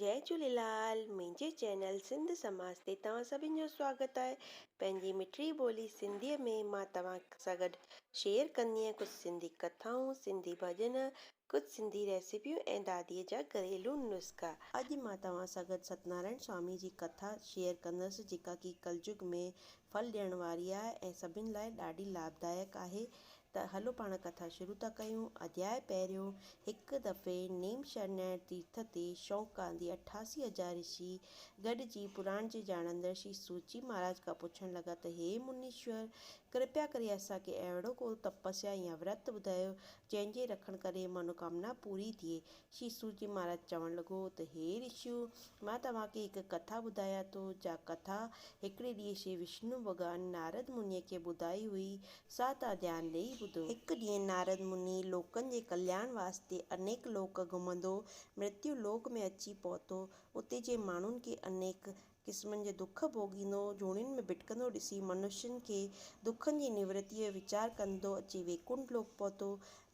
جئي جهوليلال منهنجي چينل سنڌ سماج تي توهان سڀن جو سواگت آهي پنهنجي مٺڙي ٻولي سنڌي ۾ مان توهان سان گڏ شيئر ڪندي آهيان ڪجهه سنڌي ڪٿائون سنڌي ڀڄن ڪجهه سنڌي ريسيپيون ۽ دادي جا گهريلو نسخا. اڄ مان توهان سان گڏ ستنارائڻ سوامي جي ڪٿا شيئر ڪندس جيڪا ڪي ڪلجگ ۾ ڦل ڏيڻ واري آهي ۽ سڀني لاء ڏاڍي لاڀدائڪ آهي ته هلو پاڻ ڪٿا شروع ٿا ڪيون. اڌياء پهريون، هڪ دفعي نيم شرنائڻ تيرٿ تي شوق ڪاندي اٺاسي هزار رشي گڏجي پراڻ جي ڄاڻندڙ شري سوچي مهاراج کان پڇڻ لڳا ته هي منيشور! ڪرپيا ڪري اسان کي اهڙو ڪو تپسيا يا ورت ٻڌايو جنهن جي رکڻ ڪري منوڪامنا پوري ٿئي شيسو جي مھاراج چوڻ لڳو ته ھي رشيو! مان توھان کي ھڪ ڪٿا ٻڌايان ٿو، جا ڪٿا ھڪڙي ڏينھن شري وشنو ڀڳوان نارد منھيء کي ٻڌائي ھئي، سا توھان ڌيان ڏيئي ٻڌو. ھڪ ڏينھن نارد منھي لوڪن جي ڪلياڻ واسطي انيڪ لوڪ گھمندو مرتيو لوڪ ۾ اچي پھتو. اتي جي ماڻھن کي انيڪ قسمن جي دک ڀوڳيندو، جوڻين ۾ ڀٽڪندو ڏسي منشين کي دکن جي نورتيء جو ويچار ڪندو اچي ويڪنٺ لوڪ پهتو.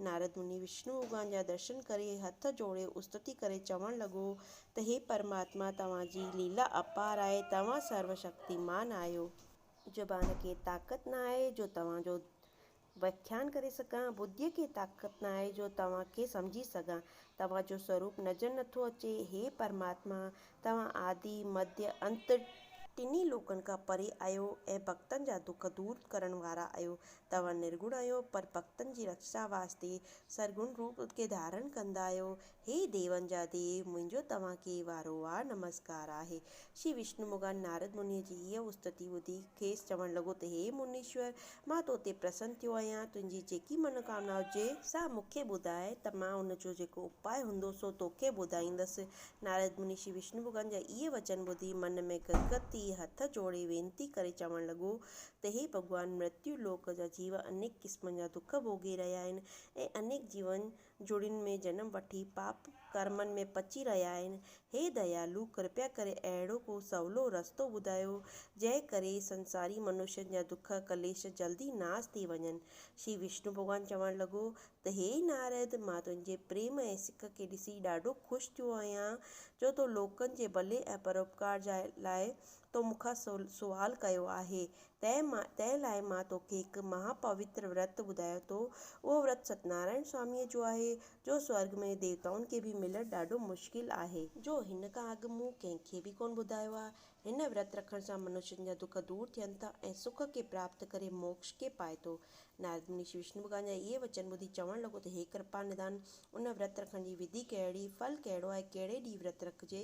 نارد مني وشنو ڀڳوان جا درشن ڪري هٿ جوڙي استتي ڪري چوڻ لڳو ته هي پرماتما توهان جي ليلا اپار آهي، توهان سرو شڪتيمان آهيو. زبان کي طاقت نه آهي جو توهان جو وياکيان ڪري سگهان، ٻڌيء کي طاقت نه آهي جو توهان کي سمجهي سگهان. توهان جو سوروپ نظر نٿو اچي. هي پرماتما! توهان آدي، مڌيه، انت، ٽنهي لوڪن کان پري آهيو ۽ ڀڳتن جا دک دور ڪرڻ وارا آهيو توهان نرگڻ آهيو پر ڀڳتن جي رڪشا واسطي سرگڻ روپ کي ڌارڻ ڪندا آهيو هي ديون جا ديو، منهنجو توهان کي وارو وار نمسڪار آهي. شري وشنومگان نارد منيء جي اها استتي ٻڌي، کيس چوڻ لڳو ته هي منيشور! مان تو تي پرسن ٿيو آهيان، تنهنجي جيڪي منوڪامنا هجي، سا مون کي ٻڌاء ته مان ان جو جيڪو اپاء هوندو سو تو کي ٻڌائيندس. نارد مني شري وشنومگان جا اهي وچن ٻڌي، من ۾ گدگد ٿي، هٿ جوڙي وينتي ڪري چوڻ لڳو ته هي ڀڳوان! مرتيو لوڪ جا جيو انيڪ قسمن جا دک ڀوڳي رهيا آهن ۽ انيڪ جيون جوڙين ۾ جنم وٺي پاپ ڪرمن ۾ پچي رهيا آهن. هي ديالو! ڪرپيا ڪري اهڙو ڪو سولو رستو ٻڌايو، جنهن ڪري سنساري منشين جا دک ڪليش جلدي ناس ٿي وڃن. شري وشنو ڀڳوان چوڻ لڳو ته هي نارد! مان تنهنجي پريم ۽ سک کي ڏسي ڏاڍو خوش ٿيو آهيان، جو تو لوڪن جي ڀلي ۽ پروپڪار جا لاء تو مون کان سوال ڪيو آهي. تنهن مان تنهن لاء مان توکي هڪ مها پوتر ورت ٻڌايان ٿو. اهو ورت ستنارائڻ سواميء جو آهي، جو سورڳ ۾ ديوتائن کي به ملڻ ڏاڍو مشڪل آهي. جو هن کان اڳ مون ڪنهن کي به ڪونه ٻڌايو آهي. هن ورت رکڻ سان منشين جا دک دور ٿين ٿا ۽ سک کي پراپت ڪري موڪش کي پائي ٿو. نارد مني شري وشنو ڀڳوان جا اهي وچن ٻڌي چوڻ لڳو ته هي ڪرپا نڌان! ان ورت رکڻ جي وڌي ڪهڙي، ڦل ڪهڙو آهي، ڪهڙي ڏينهن ورت رکجي،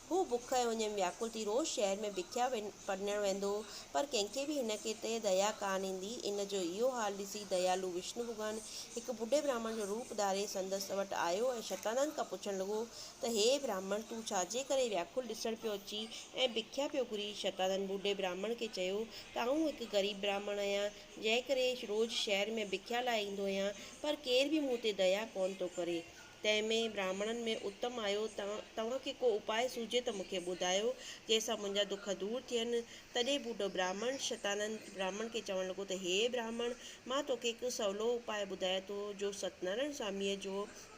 هو بک ۽ اڃ ۾ وياڪل ٿي روز شهر ۾ بکيا پنڻڻ ويندو هو، پر ڪنهن کي به هن تي ديا ڪانه ايندي. ان جو اهو حال ڏسي ديالو وشنو ڀڳوان هڪ ٻڍي براهمڻ جو روپ ڌاري سندس وٽ آيو ۽ شتانند کان پڇڻ لڳو ته هي براهمڻ تون ڇا جي ڪري وياڪل ڏسڻ پيو اچين ۽ بکيا پيو گهرين؟ شتانند ٻڍي براهمڻ کي چيو ته آئون هڪ غريب براهمڻ آهيان، جنهن ڪري روز شهر ۾ بکيا لاء ايندو آهيان، پر ڪير به مون تي ديا ڪونه ٿو ڪري. تنهن ۾ براهمڻن ۾ اتم آيو ته، توهان کي ڪو اپاء سوجهي ته مون کي ٻڌايو، جنهن سان منهنجا دک دور ٿين. تڏهن ٻڍو براهمڻ، شتانند، براهمڻ کي چوڻ لڳو ته، هيء براهمڻ! مان توکي هڪ سولو اپاء ٻڌايان ٿو، جو ستنارائڻ سواميء جو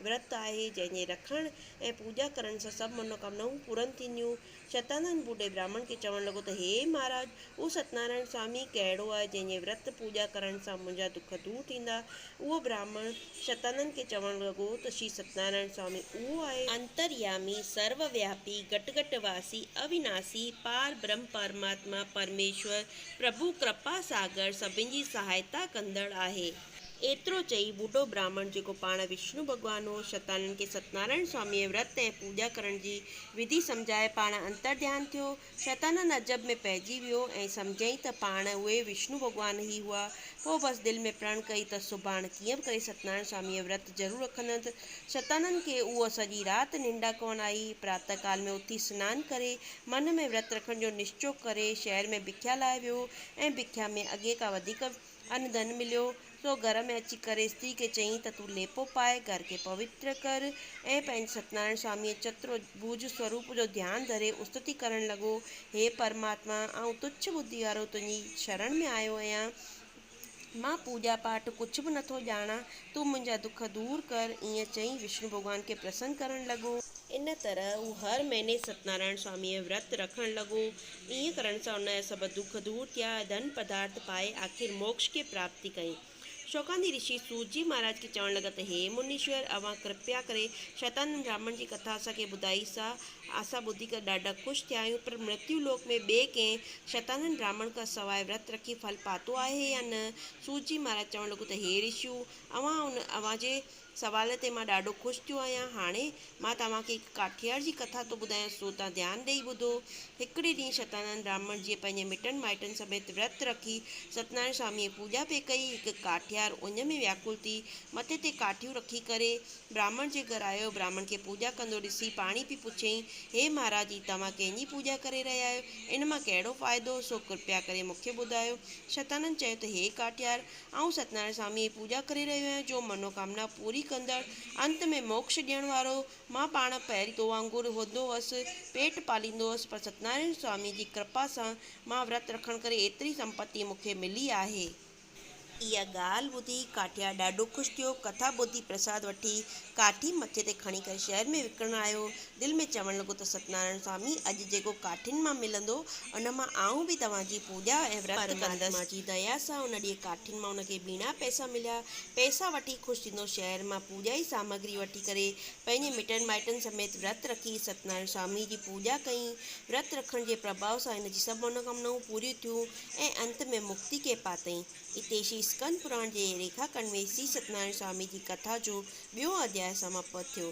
ورت آهي، جنهن جي رکڻ ۽ پوڄا ڪرڻ سان سڀ منوڪامنائون پورن ٿينديون. شتانند ٻوڏي براهمڻ کي چوڻ لڳو ته هي مهاراج! اهو ستنارائڻ سوامي ڪهڙو آهي، جنهن جي ورت پوڄا ڪرڻ سان منهنجا دک دور ٿيندا؟ اهو براهمڻ شتانند کي چوڻ لڳو ته شري ستنارائڻ سوامي اهو آهي. انتريامي، سرو وياپي، گٽ گٽ واسي، اويناشي، پار برهم پرماتما، پرميشور، پرڀو، ڪرپا ساگر، سڀن جي سهائتا ڪندڙ آهي. ايترو چئي ٻڍو براهمڻ جيڪو پاڻ وشنو ڀڳوان هو، شرڌالن کي ستنارائڻ سواميء ورت ۽ پوڄا ڪرڻ جي وڌي سمجهائي پاڻ انترڌيان ٿيو. شرڌالن عجب ۾ پئجي ويو ۽ سمجهيائين ته پاڻ اهي وشنو ڀڳوان ئي هئا. پوء بس دل ۾ پرڻ ڪئي ته سڀاڻ ڪيئن به ڪري ستنارائڻ سواميء ورت ضرور رکندس. شرڌالن کي اها سڄي رات ننڊ ڪونه آئي. پراتهه ڪال ۾ اٿي سنان ڪري، من ۾ ورت رکڻ جو نشچو ڪري، شهر ۾ ڀکيا لاء ويو ۽ ڀکيا ۾ اڳي کان وڌيڪ ان ڌن مليو، سو گهر ۾ اچي ڪري استري کي چيائين ته تون ليپو پائي گهر کي پوتر ڪر ۽ پنهنجي ستنارائڻ سواميء چترڀوج سوروپ جو ڌيان ڌري استتي ڪرڻ لڳو، هي پرماتما! آئون تڇ ٻڌي وارو تنهنجي شرڻ ۾ آيو آهيان، مان پوڄا پاٺ ڪجهه به نه ٿو ڄاڻان، تون منهنجا دک دور ڪر. ائين چئي وشنو ڀڳوان کي پرسن ڪرڻ لڳو. ان طرح هو هر مهيني ستنارائڻ سواميء جو ورت رکڻ لڳو ائين ڪرڻ سان ان جا سڀ دک دور ٿيا ۽ ڌن پدارٿ پائي آخر موڪش کي پراپتي ڪيائين. شوڪاندي رشي سوت جي مھاراج کي چوڻ لڳا ته ھي منيشور اوھان ڪرپيا ڪري شيطانن براھمڻ جي ڪٿا اسان کي ٻڌائي سا اسان ٻڌي ڪري ڏاڍا خوش ٿيا آھيون پر مرتيو لوڪ ۾ ٻئي ڪنھن شيطانن براھمڻ کان سواء ورت رکي ڦل پاتو آھي يا نه؟ سوت جي مھاراج چوڻ لڳو ته ھي رشيو اوھان ان اوھان جي سوال تي مان ڏاڍو خوش ٿيو آهيان. هاڻي مان توهان کي هڪ ڪاٺيار جي ڪٿا ٿو ٻڌايان سو تان ڌيان ڏيئي ٻڌو. هڪڙي ڏينهن شتانند براهمڻ جيئن پنهنجي مٽن مائٽن سميت ورت رکي ستنارائڻ سواميء جي پوڄا پئي ڪئي، هڪ ڪاٺيار اڃ ۾ وياڪل ٿي مٿي تي ڪاٺيون رکي ڪري براهمڻ جي گهر آيو. براهمڻ کي پوڄا ڪندو ڏسي پاڻهي پئي پڇيائين، هي مهاراج هي توهان ڪنهن جي پوڄا ڪري رهيا آهيو؟ ان مان ڪهڙو فائدو؟ سو ڪرپيا ڪري مون کي ٻڌايو. شتانند چيو ته هي ڪاٺيار آئون ستنارائڻ سواميء جي پوڄا ڪري رهيو آهيان، جو منوڪامنا پوري ڪندڙ، انت ۾ موڪش ڏيڻ وارو. مان پاڻ پهرين تو وانگر هوندو هوس، پيٽ پاليندو هوس، پر ستنارائڻ سواميء جي ڪرپا سان مان ورت رکڻ ڪري ايتري سمپتي مون کي ملي آهي. اها ڳالهه ٻڌي ڪاٺيار ڏاڍو خوش ٿيو. ڪٿا ٻڌي پرساد وٺي ڪاٺي مٿي تي کڻي ڪري شهر ۾ وڪڻڻ آيو. دل ۾ چوڻ لڳو ته ستنارائڻ سوامي اڄ جيڪو ڪاٺين مان ملندو ان مان آئون به توهان جي پوڄا ۽ ورت ڪندس. پرماتما جي ديا سان ان ڏينهن ڪاٺين مان ان کي ٻيڻا پئسا مليا. پئسا وٺي خوش ٿيندو شهر مان پوڄائي سامگري وٺي ڪري پنهنجي مٽن مائٽن سميت ورت رکي ستنارائڻ سوامي جي پوڄا ڪئي. ورت رکڻ جي پرڀاو سان هن جي سڀ منوڪامنائون پوريون ٿيون ۽ انت ۾ مڪتي کي پاتئين. اتي شري اسڪند پراڻ جي ريکا کنڊ ۾ سري ستنارائڻ سوامي جي ڪٿا جو ٻيون اڌياء سماپت ٿيو.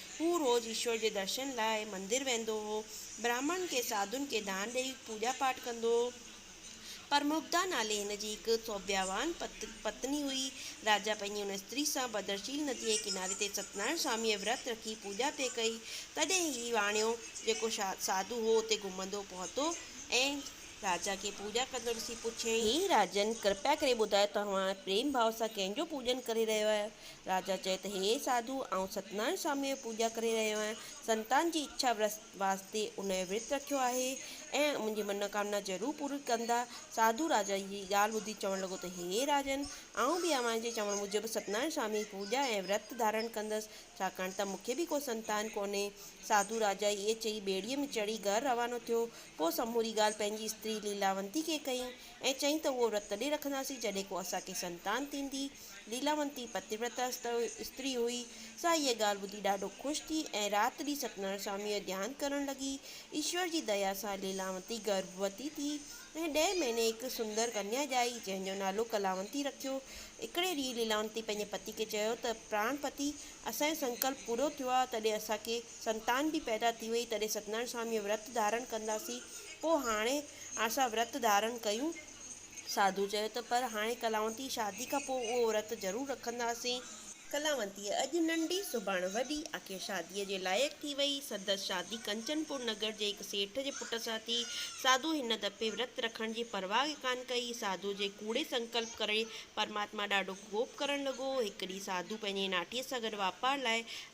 هو روز ايشور جي درشن لاء مندر ويندو هو. براهمڻن کي ساڌون کي دان ڏئي پوڄا پاٺ ڪندو هو. پرموڪدا نالي هن جي هڪ سوڀياوان پتني هئي. راجا پنهنجي ان استري سان ڀدرشيل نديء جي ڪناري تي ستنارائڻ سواميء ورت رکي پوڄا پئي ڪئي. تڏهن هي واڻيو جيڪو ساڌو هو اتي گهمندو پهتو ۽ راجا کي پوڄا ڪندو ڏسي پڇيائين. هي راجن! ڪرپيا ڪري ٻڌايو توهان پريم ڀاء سان ڪنهن جو پوڄن ڪري رهيو آهيو؟ راجا چئي ته هي ساڌو! آئون ستينارائڻ سواميء جي پوڄا ڪري رهيو آهيان. سنتان جي اڇا واسطي ان جو ورت رکيو آهي ۽ منهنجي منوڪامنا ضرور پوري ڪندا. ساڌو راجا جي هيء ڳالهه ٻڌي چوڻ لڳو ته هي راجن! آئون به اوهان جي چوڻ موجب ستينارائڻ سواميء جي پوڄا ۽ ورت ڌارڻ ڪندس، ڇاڪاڻ ته مون کي به ڪو سنتان ڪونهي. ساڌو راجا ائين چئي ٻيڙيء ۾ چڙهي گهر روانو ٿيو. پوء سموري ڳالهه پنهنجي استري ليلاونتي کي ڪئي ۽ چيائين ته اهو ورت تڏهن رکنداسين جڏهن ڪو اسان کي سنتان ٿيندي. ليلاونتي پتيورتا استري هئي، سا هيء ڳالهه ٻڌي ڏاڍو خوش ٿي ۽ رات ڏينهن ستنارائڻ سواميء جو ڌيان ڪرڻ لڳي. ايشور جي ديا سان ليلاونتي گرڀوتي ٿي ۽ ڏهين مهيني هڪ سندر ڪنيا ڄائي، جنهن جو نالو ڪلاونتي رکيو. هڪڙي ڏينهن ليلاونتي پنهنجي پتي کي چيو ته پراڻ پتي، اسان جو سنڪلپ پورو ٿيو آهي، تڏهن اسان کي سنتان به پيدا ٿي وئي، تڏهن ستنارائڻ سواميء جو ورت ڌارڻ ڪنداسين، پوء هاڻي اسان ورت ڌارڻ ڪيون. ساڌو چيو ته پر هاڻي ڪلاونتي شادي کان پوء اهو ورت ضرور رکنداسين. ڪلاونتيء اڄ ننڍي سڀاڻ وڏي آخر شاديء جي لائق ٿي وئي. سندس شادي ڪنچن پور نگر جي هڪ سيٺ جي پٽ سان ٿي. ساڌوء هن دفعي ورت رکڻ جي پرواهه ئي ڪانه ڪئي. ساڌوء جي ڪوڙي سنڪلپ ڪري پرماتما ڏاڍو ڪوپ ڪرڻ لڳو. هڪ ڏينهن ساڌو پنهنجي ناٺيء سان گڏ واپار لاء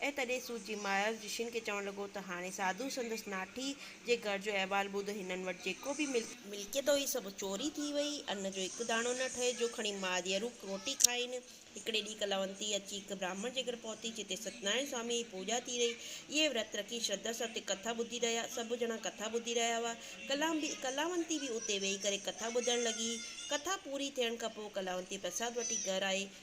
۽ تڏهن سوت جي مايار رشين کي چوڻ لڳو ته هاڻي ساڌو سندس ناٺي جي گهر جو احوال ٻڌ، هنن وٽ جيڪو به ملڪيت. ملڪيت هئي سڀ چوري ٿي وئي، ان جو هڪ داڻو نه ٺهي جو کڻي ماديارو روٽي کائين. هڪڙي ڏينهن ڪلاونتي اچي هڪ براهمڻ جي گهر پهتي جتي ستنارائڻ سواميء جي پوڄا ٿي رهي. اهي ورت رکي شرڌا سان اتي ڪٿا ٻڌي رهيا. سڀ ڄڻا ڪٿا ٻڌي رهيا هئا. ڪلاونتي به اتي ويهي ڪري ڪٿا ٻڌڻ لڳي. ڪٿا پوري ٿيڻ کان پوء ڪلاونتي پرساد وٺي گهر آئي.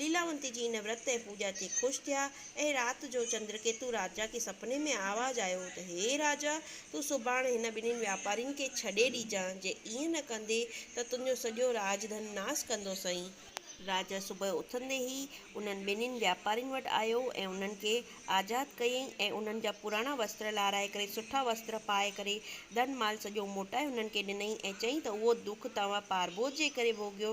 ليلاونتي جي ان ورت ۽ پوڄا تي خوش ٿيا ۽ رات جو چندرڪيتو راجا کي سپني ۾ آواز آيو ته هي راجا! تون سڀاڻ هن ٻنهين واپارين کي ڇڏي ڏجانء، جي ائين نه ڪندي ته تنهنجو سڄو راڄ ڌن ناس ڪندو سئي. راجا صبح اٿندي ئي انهن ٻنهين واپارين وٽ آيو ۽ انهن کي آزاد ڪيائين ۽ انهن جا پراڻا وستر لارائي ڪري سٺا وستر پائي ڪري ڌن مال سڄو موٽائي انهن کي ڏنائين ۽ چيائين ته اهو دک توهان پاربوت جي ڪري ڀوڳيو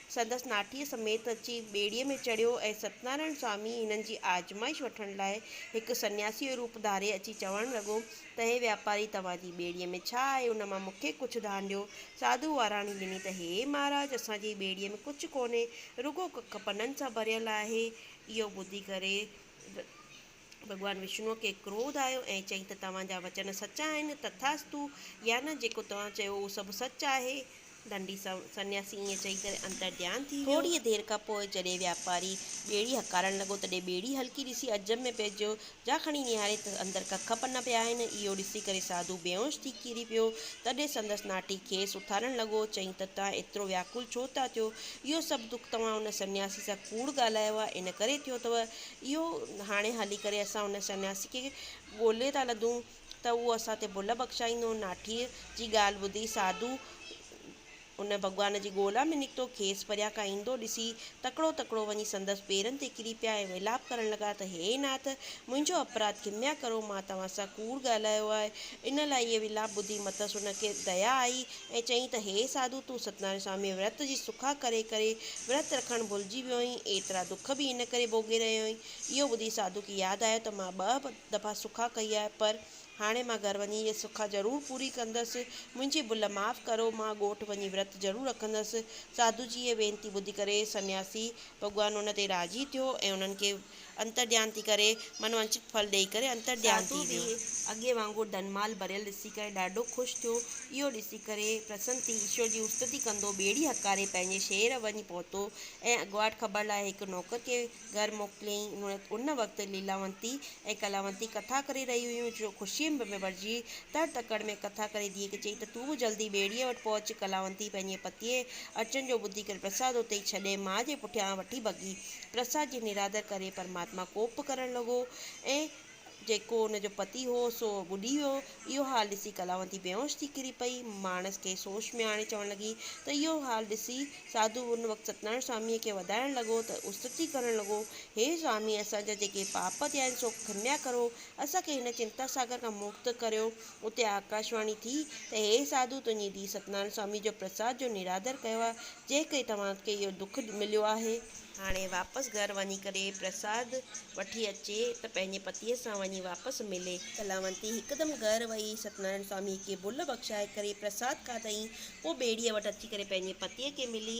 سندس ناٺيء سميت اچي ٻيڙيء ۾ چڙهيو ۽ ستنارائڻ سوامي هنن جي آزمائش وٺڻ لاء هڪ سنياسيء جو روپ ڌاري اچي چوڻ لڳو ته هي واپاري توهان جي ٻيڙيء ۾ ڇا آهي ان مان مون کي ڪجهه ڌان ڏيو. ساڌوء واراڻي ڏني ته هي مهاراج اسان جي ٻيڙيء ۾ ڪجهه ڪونهي رڳو ڪک پنن سان ڀريل آهي. اهو ٻڌي ڪري. ڀڳوان وشنوء کي ڪروڌ آيو ۽ چيائين ته توهان جا وچن سچا آهن، تٿاستو، يا نه جيڪو توهان چيو اهو سڀ سچ آهي. دنڊي سنياسي ائين چئي ڪري انتر ڌيان ٿي ويو. ٿوريء دير کان پوء جڏهن واپاري ٻيڙي هڪارڻ لڳو تڏهن ٻيڙي هلڪي ڏسي عجب ۾ پئجيو، جا کڻي نهاري ته اندر ڪک پنا پيا آهن. اهو ڏسي ڪري ساڌو بيهوش ٿي ڪري پيو. تڏهن سندس ناٺي کيس اٿارڻ لڳو. چيائين ته توهان ايترو وياڪل ڇو ٿا ٿيو؟ اهو سڀ دک توهان ان سنياسي سان ڪوڙ ڳالهايو آهي، ان ڪري ٿيو اٿو. اهو هاڻي هلي ڪري اسان ان سنياسي کي ڳولي ٿا لڌون ته اهو اسان تي ڀل بخشائيندو. ناٺيء جي ڳالهه ٻڌي ساڌو ان ڀڳوان جي ڳولا ۾ نڪتو. کيس پريان کان ايندو ڏسي تڪڙو تڪڙو وڃي سندس پيرن تي ڪري پيا ۽ ويلاپ ڪرڻ لڳا ته هي ناٿ! منهنجو اپراڌ کميا ڪرو، مان توهان سان ڪوڙ ڳالهايو آهي. ان لاء اهي ويلاپ ٻڌي مٿس ان کي ديا آئي ۽ چيائين ته هي ساڌو تون ستنارائڻ سواميء ورت جي سکا ڪري ڪري ورت رکڻ ڀلجي ويو آهين، ايترا دک به ان ڪري ڀوڳي رهيو آهين. اهو ٻڌي ساڌوء کي ياد آيو ته مان ٻه دفعا سکا ڪئي آهي پر هاڻي مان گهر وڃي اها سکا ضرور پوري ڪندس، منهنجي ڀل معاف ڪرو، مان ڳوٺ وڃي ورت ضرور رکندس. ساڌو جي هيء وينتي ٻڌي ڪري سنياسي ڀڳوان ان تي راضي ٿيو ۽ انهن کي انتر ڌيان ٿي ڪري، من وانڇت ڦل ڏيئي ڪري انتر ڌيان ٿي ويو. ساڌو به اڳي وانگر ڌن مال ڀريل ڏسي ڪري ڏاڍو خوش ٿيو. اهو ڏسي ڪري پرسن ٿي ايشور جي استتي ڪندو ٻيڙي هڪاري پنهنجي شهر وڃي پهتو ۽ اڳواٽ خبر لاء هڪ نوڪر کي گهر موڪليائين. ان وقت ليلاونتي ۽ ڪلاونتي ڪٿا ڪري رهيون هيون جو خوشيء ۾ ڀرجي تڙ تڪڙ ۾ ڪٿا ڪري ڌيء کي چيائين ته تون به جلدي ٻيڙيء وٽ پهچ. ڪلاونتي پنهنجي پتيء اچڻ جو ٻڌي ڪري پرساد اتي ئي ڇڏي ماء جي پٺيان وٺي ڀڳي. پرسا جي نرادر ڪري پرماتما ڪوپ ڪرڻ لڳو ۽ جيڪو ان جو پتي هو سو ٻڏي ويو. اهو حال ڏسي ڪلاوندي بيهوش ٿي ڪري پئي. ماڻس کي سوش ۾ آڻي چوڻ لڳي ته اهو حال ڏسي ساڌو ان وقت ستنارائڻ سواميء کي وڌائڻ لڳو ته استتي ڪرڻ لڳو، هي سوامي! اسان جا جيڪي پاپ ٿيا آهن سو کنيا ڪرو، اسان کي هن چنتا ساگر کان مڪت ڪريو. اتي آڪاشواڻي ٿي ته هي ساڌو تنهنجي ڌيء ستنارائڻ سوامي جو پرساد جو نرادر ڪيو آهي، جنهن ڪري توهان کي اهو دک مليو آهي. هاڻي واپس گهر وڃي ڪري پرساد وٺي اچي ته پنهنجي پتيء سان وڃي واپس ملي. ڪلامتي هڪدم گهر وئي ستنارائڻ سواميء کي ڀل بخشائي ڪري پرساد کاڌائين. پوء ٻيڙيء وٽ اچي ڪري پنهنجي پتيء کي ملي.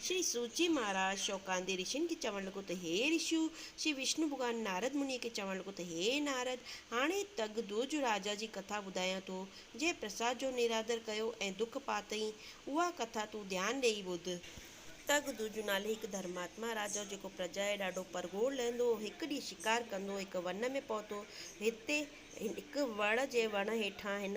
شري سوجي مھاراج شوڪاندي رشين کي چوڻ لڳو ته ھي رشيو! شري وشنو ڀڳوان نارد منھنيء کي چوڻ لڳو ته ھي نارد! ھاڻي تڳ دورج راجا جي ڪٿا ٻڌايان ٿو، جنھن پرساد جو نرادر ڪيو ۽ دک پاتئين، اھا ڪٿا تون ڌيان ڏيئي ٻڌ. تڳ دورج نالي ھڪ ڌرماتما راجا ھو، جيڪو پرجا جي ڏاڍو پرگھور لھندو ھو. ھڪ ڏينھن شڪار ڪندو ھڪ ون ۾ پھتو. ھتي ھڪ وڙ جي وڻ ھيٺان ھن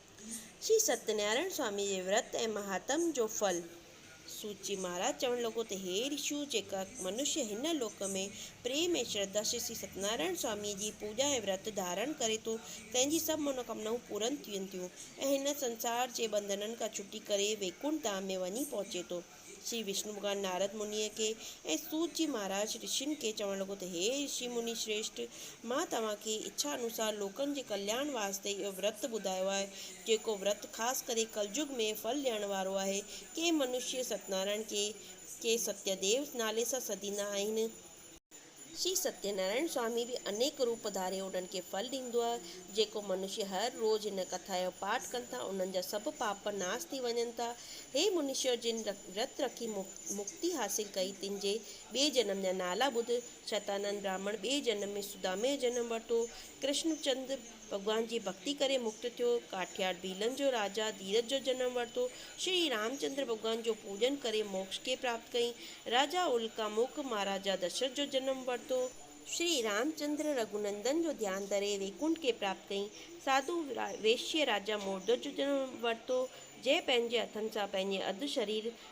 شري ستينارائڻ سوامي جي ورت ۽ مهاتم جو ڦل. سوت جي مهاراج چوڻ لڳو ته هي رشيو! جيڪا منشيه هن لوڪ ۾ پريم ۽ شرڌا شري ستينارائڻ سوامي جي پوڄا ۽ ورت ڌارڻ ڪري ٿو تنهن جي سڀ منوڪامنائون پورن ٿين ٿيون ۽ هن سنسار جي ٻنڌنن کان ڇٽي ڪري ويڪنٺ ڌام ۾ وڃي پهچي ٿو. شري وشنو ڀڳوان نارد منيء کي ۽ سوت جي مهاراج رشين کي چوڻ لڳو ته هي رشي مني شريشٺ! مان توهان کي اڇا انوسار لوڪن جي ڪلياڻ واسطي اهو ورت ٻڌايو آهي، جيڪو ورت خاص ڪري ڪلجگ ۾ ڦل ڏيڻ وارو آهي. ڪي منشي ستنارائڻ، ڪي ڪي ستيديو نالي سان سڏيندا آهن. شري ستيه نارائڻ سوامي به انيڪ روپ ڌاري انهن کي ڦل ڏيندو آهي. جيڪو منشي هر روز هن ڪٿا جو پاٺ ڪن ٿا، انهن جا سڀ پاپ ناس ٿي وڃن ٿا. هي منشيو جن ورت رکي مڪتي حاصل ڪئي، تن جي ٻئي جنم جا نالا ٻڌ، شتانند براهمڻ ٻئي جنم ۾ سدامي جو جنم ورتو، ڪرشن چند، ڀڳوان جي ڀڳتي ڪري مڪت ٿيو. ڪاٺياڙ ڀيلن جو راجا ڌيرج جو جنم ورتو. شري رامچندر ڀڳوان جو پوڄن ڪري موڪش کي پراپت ڪئي. راجا الڪا مک مھاراجا دشرٿ جو جنم ورتو. شري رامچندر رگهونندن جو ڌيان ڌري ويڪنٺ کي پراپت ڪئي. ساڌو ويشيه راجا موردوش جو جنم ورتو. جنهن پنهنجي هٿن سان پنهنجي اڌ شرير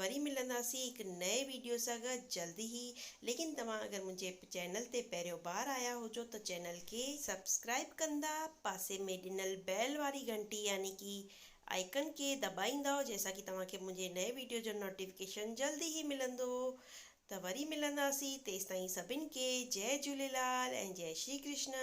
وري ملنداسين هڪ نئين ويڊيو سان گه جلد ئي ليڪن توهان اگر منهنجي چينل تي پهريون بار آيا هجو ته چينل کي سبسڪرائب ڪندا پاسي ۾ ڏنل بيل واري گهنٽي يعني ڪي آئيڪن کي دٻائيندؤ جنهن سان ڪي توهان کي منهنجي نئين ويڊيو جو نوٽيفڪيشن جلد ئي ملندو ته وري ملنداسين تيستائين سڀن کي جئي جهوليلال ۽ جئي شري ڪرشنا.